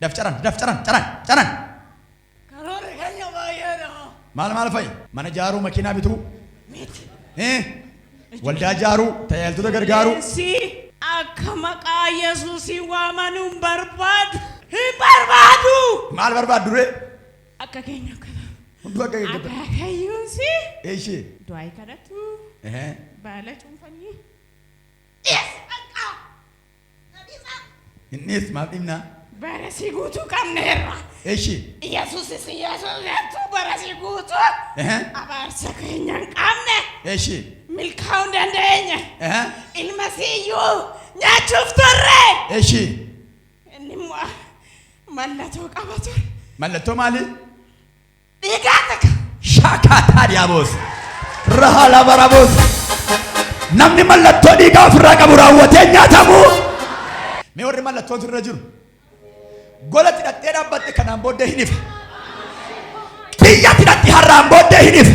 Daf caran daf caran caran caran. Karoorri keenya baay'eedha. Maal maal fa'i? Mana ijaaruu, makiinaa bituu, Miti. eh, waldaa ijaaruu, tajaajiltoota gargaaruu. Yesuusii akka maqaa Yesuusiin waamanu hin barbaadu. Hin barbaadu. Maal barbaaddu ree? Akka keenya kana. Hunduu akka geggeeffatu. Akaakayyuunsi Eeshi. du'aa kadhatu Eh. baala cuunfanii. Yes, akka. Na dhiisaa. Innis maaf dhimna? Barasii guutuu qabneerra. Eshi. Yesuusis Yesuus jettuu barasii guutuu Ehe. abaarsa keenya hin qabne Eshi. milkaa'uu hin dandeenye. Ehe. Ilma siiyyuu nyaachuuf turre. Eshi. Inni immoo mallattoo qaba ture. Mallattoo maali? Dhiigaa takka. Shaakaataa diyaaboos. Rahaala baraboos. Namni mallattoo dhiigaa ofirraa qabu raawwatee nyaatamu. Mee warri mallattoo sirra jiru. Gola tidhattee dhaabbatte kanaan booddee hin ifa. Biyya tidhatti har'aan booddee hin ifa.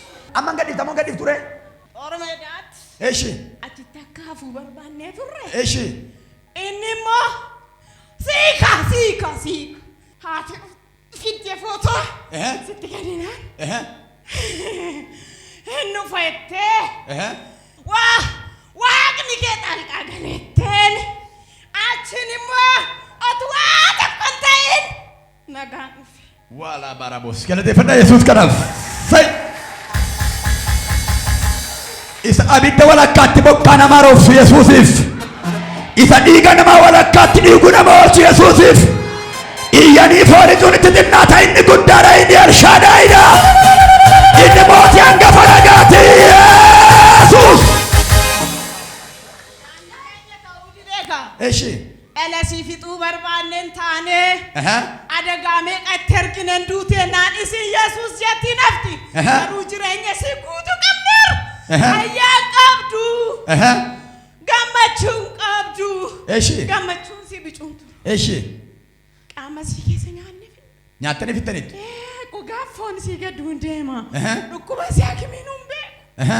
Amma hin gadhiifta moo hin gadhiiftu ree? Orma Edaatti Eshi, achitti akka hafuu barbaannee turre. eshi. Inni immoo siika siika siika haati fidde footoo Ehe. sitti kenninaan Ehe, hin dhufa jettee ehe. waa waaqni kee xaalqaa galeetteen achiin immoo otu waa tokko hin ta'in nagaan dhufe. Waalaa baaraboos galateeffadhaa yesuus kanaaf say isa abidda walakkaatti bokkaa namaa roobsu yesuusiif isa dhiiga namaa walakkaatti dhiigu nama oolchu yesuusiif iyyanii foolituun itti xinnaata inni guddaadha inni elshaadaayidha inni mootii hangafa nagaati yesuus Naannoo keenya ta'uu didee kaa. eshi Dhala sii fixuu barbaannen taanee Aha. adagaa meeqa itti arginen duutee naan isiin yesuus jettiin hafti Aha. garuu jireenya isii guutu qabneer Aha. ayyaa qabdu Aha. gammachuun qabdu Eshi. gammachuun sii bicuumtu Eshi. qaama sii keessa nyaanne fi Nyaattanii fittanitti. Ee, gogaan foon sii gadduun deema Aha. dhukkuba sii hakimiin hin beeku Aha.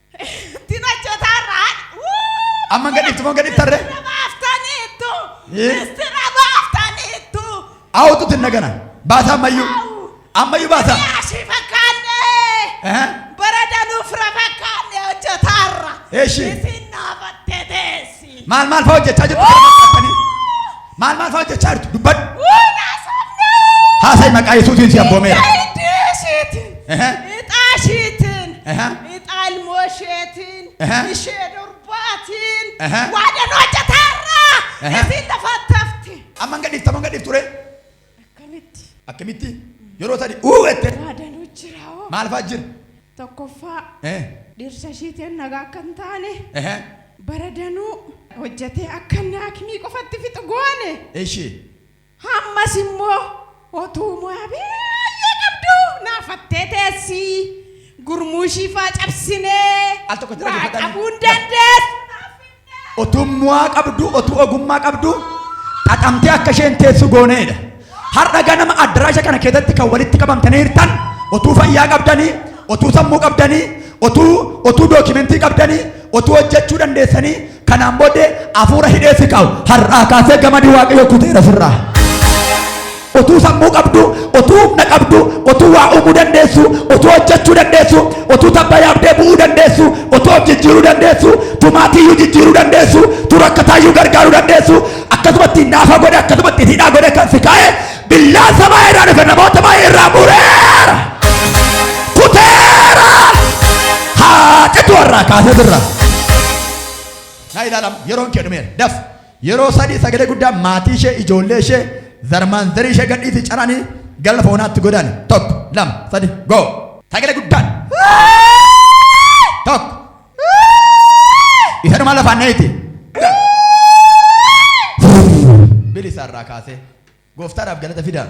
Ittiin hojjetaa irraa haadha. Wuu! Amma gaditti moo gaditti tarree? Mistira baaftaniittu. Eh? Mistira baaftaniittu. Aawututti hin nagana. Baasaa ammayyuu. Ammayyuu baasaa. Yaashii fakkaannee. Eh? Bara danuu fira fakkaannee hojjetaa irra. Eshi. Isin naafattee teessu. Maal maal fa'aa hojjechaa jirtu kana fakkaatanii? Maal maal fa'aa hojjechaa jirtu? Dubbadhu. Haasa'i maqaa Yesuusiin si abboomeera. Ehe. Ixaashiitiin, Ehe. ixaa ilmoo isheetiin, Ehe. ishee durbaatiin, Ehe. waadaan hojjetaa irraa Ehe. isin lafattafti. Amma hin gadhiiftu, amma hin gadhiiftu ree? Akkamitti? Akkamitti? Yeroo sadi uu jette. Waa danuu jira hoo. Maal fa'aa jira? Tokkoffaa Eh, dhirsa ishiitiin nagaa akka hin taane eh, bara danuu hojjetee akka inni haakimii qofatti fixu goone. eshi. Hammas immoo otuu mo'aa baay'ee qabdu naafattee teessi. Gurmuu ishii faa cabsinee Al tokkotti waa dhaggeeffadhaan. qabuu hin dandeessu. Otuu mu'aa qabdu, otuu ogummaa qabdu, xaxamtee akka isheen teessu gooneedha. Har'a ganama addaraasha kana keessatti kan walitti qabamtanii jirtan otuu fayyaa qabdanii, otuu sammuu qabdanii, otuu otuu dookimentii qabdanii, otuu hojjechuu dandeessanii kanaan booddee hafuura hidheessi qabu har'aa kaasee gamadii waaqayyo kuteera sirraa. Otuu sammuu qabduu, otuu humna qabduu, otuu waa uumuu dandeessuu, otuu hojjechuu dandeessuu, otuu tabba yaabdee bu'uu dandeessuu, otuu of jijjiiruu dandeessuu, tu maatiiyyuu jijjiiruu dandeessuu, tu rakkataayyuu gargaaruu dandeessuu, akkasumatti naafa godhe akkasumatti hidhaa godhe kan si kaa'e billaa sabaa irraa dhufe namoota baay'ee irraa mureera. Kuteera! Haaxitu warraa kaasee birraa. Naa ilaalam yeroon kee dhumeera daf. Yeroo sadii sagalee guddaan maatii ishee, ijoollee ishee, zarmaan zarii ishee gadhiisii caranii gara lafa onaatti godaane. Tokko, lama, sadi, go! Sagalee guddaan. Tokko. Isa dhumaa lafaan na'iti. Bilisa irraa kaasee. Gooftaadhaaf galata fidaa.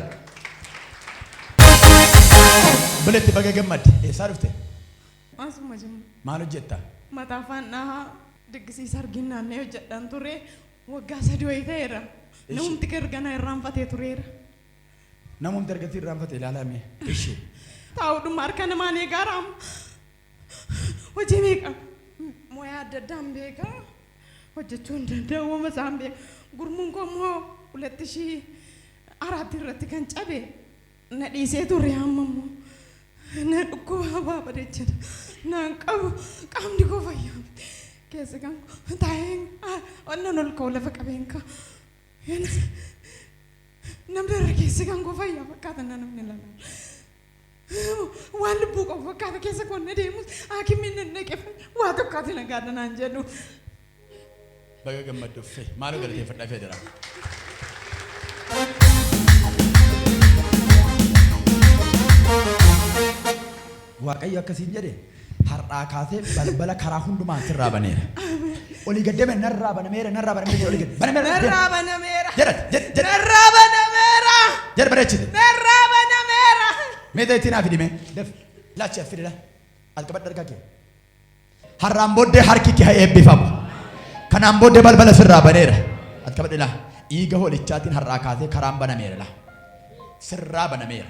Biletti baga gammadde. Eessaa dhufte? Asuma jimma. Maal hojjetta? Maxaafaan dhahaa diggisiisa argin naannee hojjedhaan ture waggaa sadii wayii ta'eera. Ishi. Namumti gargana irraanfatee tureera. Namumti argatii irraanfate ilaalaa mee. Ishi. Taa'uudhuma harka namaan eegaaraam. Hojii meeqa? Moyaa adda addaan beeka. Hojjechuu hin danda'u wama isaan beeka. Gurmuun koo immoo hulatishii araatti irratti kan cabe Na dhiisee turre amma immoo na dhukkuba abaaba dachata naan qabu qaamni koo fayyaa miti. Keessa kan koo taa'een onnan ol ka'u lafa qabeen ka'u. Namni irra keessa kan koo fayyaa fakkaata na namni lama. Waan lubbuu qabu fakkaata keessa koo na deemus haakimiin na naqe waa tokkaati na gaadha naan jedhu. Baga gammadde uffee. Maaloo galateeffadhaa fi adaraa. Waaqayyo akkasiin jedhe har'aa kaasee balbala karaa hundumaan sirraa baneera. Olii gaddeme narraa banameera narraa banameera jedhe olii gad banameera. Narraa banameera. Jedha jedha jedha Narraa banameera. jedha bareechite. Narraa banameera. Mee ta'e ittiin hafi dimee. Def laachi affidila. As qabadha harka kee. Har'aan booddee harki kee haa eebbifamu. Kanaan booddee balbala sirraa baneera. Ati qabadhe laa. Dhiiga hoolichaatiin har'aa kaasee karaan banameera laa. Sirraa banameera.